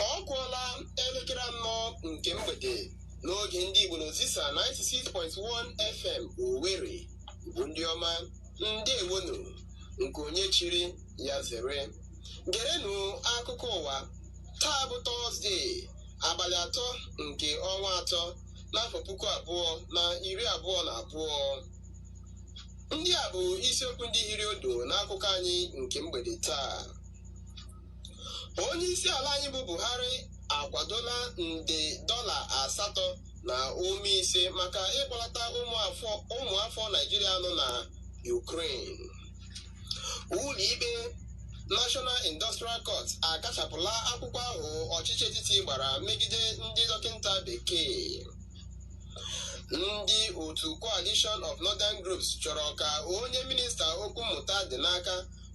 ọ kụọla elekere anọ nke mgbede n'oge ndị Igbo na Ozisa 96.1 FM Owerri Igbo ndị ọma ndewonu nke onye chiri ya zere gerenụ akụkọ ụwa taa bụ tọzdee abalị atọ nke ọnwa atọ n'afọ puku abụọ na iri abụọ na abụọ ndị a bụ isiokwu ndị hiri odo n'akụkọ anyị nke mgbede taa onye isi ala anyị bụ Buhari akwadola nde dọla asatọ na ụma ise maka ịkpọlata ụmụafọ Naijiria nọ na Ukraine ụlọikpe National Industrial Court akachapụla akwụkwọ ahụ ọchịchị etiti gbara megide ndị dọkịta bekee ndị otu Coalition of Northern Groups chọrọ ka onye minista okwu mmụta dị n'aka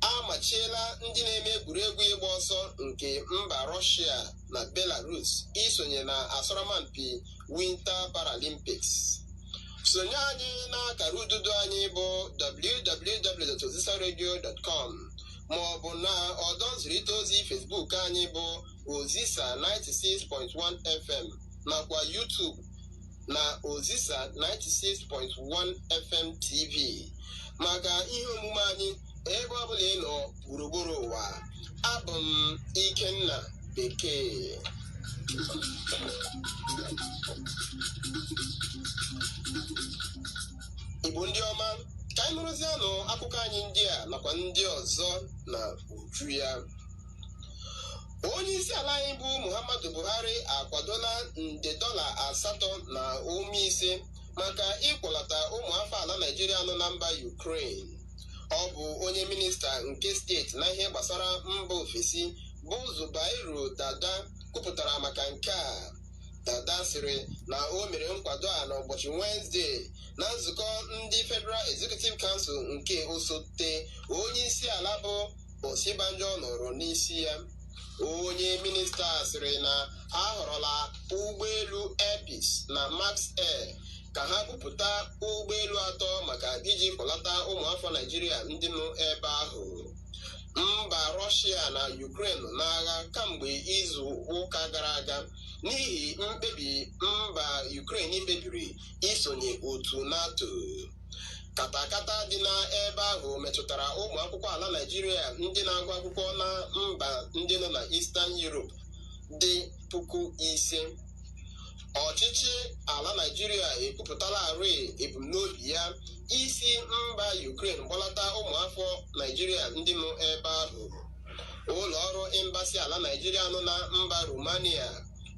a machiela ndị na-eme egwuregwu ịgba ọsọ nke mba Rọshia na Belarus isonye na asọrọmpi Winter Paralympics sonye anyị n'akara ududo anyị bụ www.ozisaradio.com ma ọ bụ na ọdọ nzirịta ozi Facebook anyị bụ Ozisa 96.1 FM nakwa YouTube na Ozisa 96.1 FM TV maka ihe omume anyị ebe ọ bụla ị nọ gburugburu ụwa abụ m Ikenna Bekee Igbo ndị ọma ka anyị nụrụzianụ akụkọ anyị ndị a nakwa ndị ọzọ na uju ya onye isi ala anyị bụ muhammadu buhari akwadola nde dọla asatọ na ụma ise maka ịkpọlata ụmụ afọ ala naijiria nọ na mba ukraine ọ bụ onye minista nke steeti na ihe gbasara mba ofesi bụ zubairu dada kwupụtara maka nke a dada sịrị na o mere nkwado a n'ụbọchị wenesde na nzukọ ndị federal executive council nke osote onye isi ala bụ Osibanjo nọrọ n'isi ya onye minista sịrị na ha họrọla ụgbọelu Air Peace na Max Air ka ha bupụta ụgbọelu atọ maka iji kpọlata ụmụafọ Naịjirịa ndị nọ ebe ahụ mba Rọshia na Ukraine n'agha kamgbe izu ụka gara aga n'ihi mkpebi mba Ukraine kpebiri isonye otu NATO katakata dị n'ebe ahụ metụtara ụmụ akwụkwọ ala Naịjirịa ndị na-agụ akwụkwọ na mba ndị nọ na Eastern Europe dị puku ise ọchịchị ala Naịjirịa ekwupụtalarị ebumnobi ya isi mba Ukraine kpọlata ụmụafọ Naịjirịa ndị nọ ebe ahụ ụlọ ọrụ embasi ala Naịjirịa nọ na mba Romania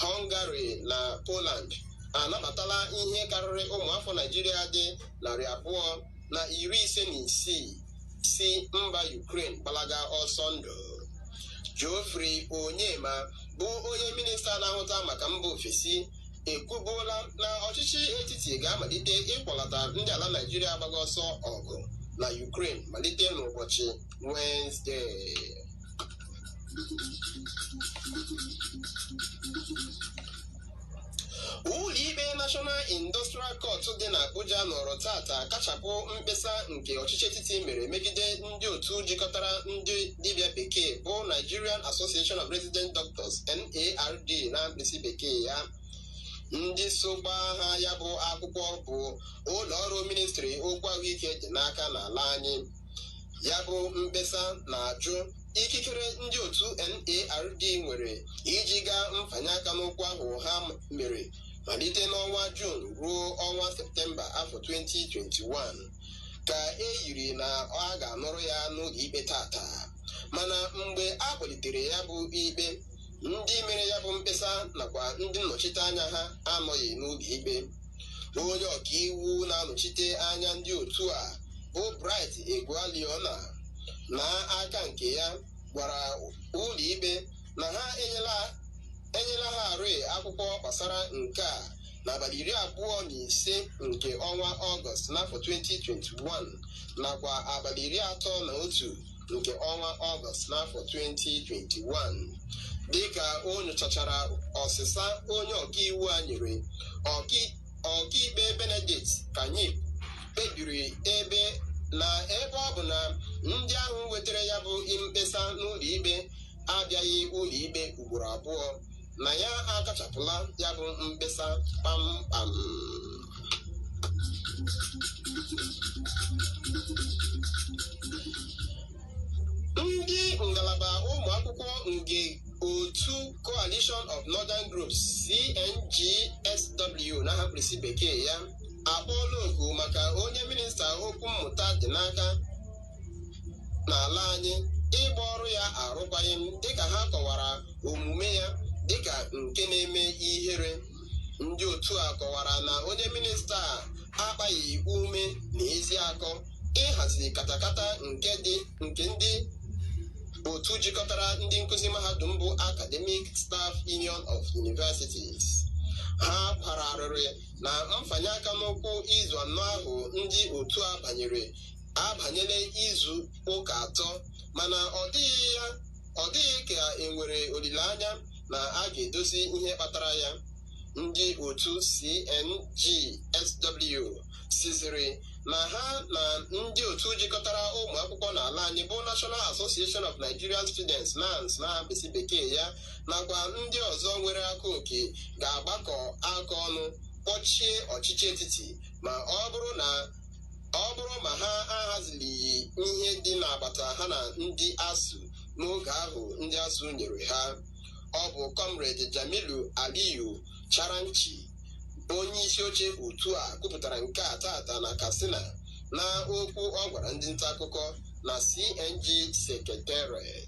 Hungary na Poland anabatala ihe karịrị ụmụafọ Naijiria dị narị abụọ na iri ise na isii si mba Ukraine gbalaga ọsọ ndụ Geoffrey Onyeama bụ onye minista na-ahụta maka mba ofesi ekwubuola na ọchịchị etiti ga-amalite ịkpọlata ndị ala Naijiria gbaga ọsọ ọgụ na Ukraine malite n'ụbọchị Wenezdee ụlọikpe National Industrial Court dị n'Abuja nọrọ taata kachapụ mkpesa nke ọchịchị etiti mere megide ndị otu jikọtara ndị dibịa bekee bụ Nigerian Association of Resident Doctors NARD na mkpirisi bekee ya ndị so gbaa ha ya bụ akwụkwọ bụ ụlọ ọrụ ministri okwu ahụike dị n'aka n'ala anyị ya bụ mkpesa na-ajụ ikikere ndị otu NARD nwere iji gaa mfanye aka n'ụkwụ ahụ ha mere malite n'ọnwa Jun ruo ọnwa Septemba afọ 2021 ka e yiri na a ga-anụrụ ya n'ụlọ ikpe taata mana mgbe a kpọlitere ya bụ ikpe ndị mere ya bụ mkpesa nakwa ndị nnọchite anya ha anọghị n'ụlọ ikpe onye ọkaiwu na-anọchite anya ndị otu a bụ Bright Egwualiona n'aka nke ya gwara ụlọ ikpe na ha enyela enyela ha rịị akwụkwọ gbasara nke a n'abalị iri abụọ na ise nke ọnwa ọgọst n'afọ 2021 nakwa abalị iri atọ na otu nke ọnwa ọgọst n'afọ 2021 dịka o nyochachara ọsịsa onye ọkaiwu a nyere ọkai- ọkaikpe Benedict Kanyip kpebiri ebe na ebe ọ bụ na ndị ahụ wetara ya bụ mkpesa n'ụlọikpe abịaghị ụlọikpe ugboro abụọ na ya akachapụla ya bụ mkpesa kpamkpam ndị ngalaba ụmụ akwụkwọ nke otu Coalition of Northern Groups CNGSW na mkpirisi bekee ya akpọọla oku maka onye minista okwu mmụta dị n'aka n'ala anyị ịgba ọrụ ya arụkwaghị m dịka ha kọwara omume ya dịka nke na-eme ihere ndị otu a kọwara na onye minista a akpaghị ume na ezi akọ ịhazi katakata nke dị nke ndị otu jikọtara ndị nkụzi mahadum bụ Academic Staff Union of Universities ha kwara arịrị na mfanye aka n'ụkwụ izu anọ ahụ ndị otu a banyere abanyela izu ụka atọ mana ọ dịghị ya ọ dịghị ka e nwere olileanya na a ga-edozi ihe kpatara ya ndị otu CNGSW sịzịrị na ha na ndị otu jikọtara ụmụ akwụkwọ n'ala anyị bụ National Association of Nigerian Students NANS na mkpịsị bekee ya nakwa ndị ọzọ nwere aka oke ga-agbakọ aka ọnụ kpọchie ọchịchị etiti ma ọ bụrụ na ọ bụrụ ma ha ahazilighi ihe dị n'agbata ha na ndị ASUU n'oge ahụ ndị ASUU nyere ha. Ọ bụ Comrade Jamilu Aliyu Charanchi bụ onye isi oche otu a kwupụtara nke a taata na Katsina na okwu ọ gwara ndị nta akụkọ na CNG Secretariat.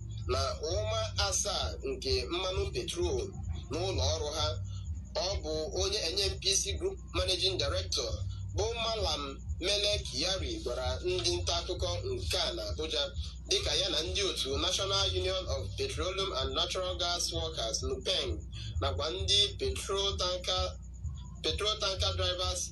na ụma asaa nke mmanụ petrol n'ụlọ ọrụ ha ọ bụ onye NNPC Group Managing Director bụ Malam Mele Kyari gwara ndị nta akụkọ nke a na Abuja dịka ya na ndị otu National Union of Petroleum and Natural Gas Workers NUPENG nakwa ndị petrol tanker drivers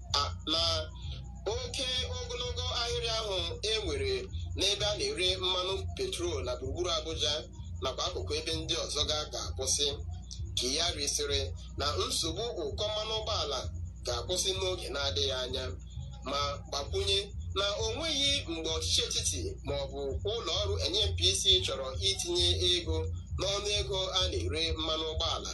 na oke ogologo ahịrị ahụ e nwere n'ebe a na-ere mmanụ petrol na gburugburu Abuja nakwa akụkụ ebe ndị ọzọ ga ga-akwụsị Kyari sịrị na nsogbu ụkọ mmanụ ụgbọala ga-akwụsị n'oge na-adịghị anya ma gbakwunye na o nweghị mgbe ọchịchị etiti ma ọ bụ ụlọ ọrụ NNPC chọrọ itinye ego n'ọnụ ego a na-ere mmanụ ụgbọala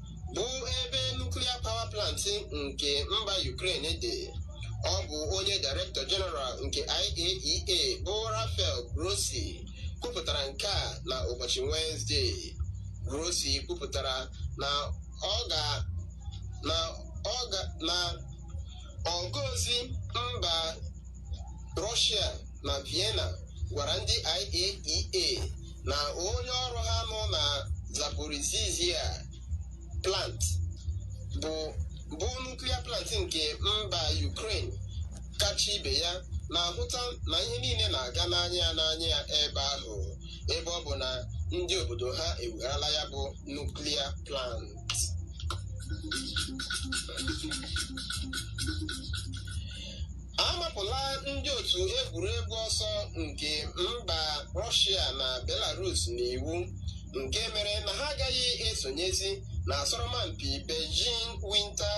bụ ebe nuclear power plant nke mba Ukraine dị ọ bụ onye Director General nke IAEA bụ Rafael Grossi kwupụtara nke a na ụbọchị Wenesde Grossi kwupụtara na ọga n'ozi mba Rọshia na Vienna gwara ndị IAEA na onye ọrụ ha nọ na Zaporizhzhia plant bụ bụ nuclear plant nke mba Ukraine kacha ibe ya na-ahụta na ihe niile na-aga n'anya ya n'anya ya ebe ahụ ebe ọ bụ na ndị obodo ha ewegharala ya bụ nuclear plant amapụla ndị otu egwuregwu ọsọ nke mba rọshia na belarus n'iwu nke mere na ha agaghị esonyezi na asọrọmpi beijing winter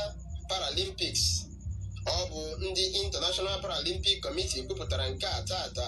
paralympics ọ bụ ndị international paralympic committee kwupụtara nke a taata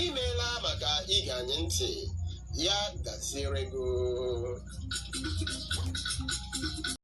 imeela maka ige anyị ntị ya gaziere gị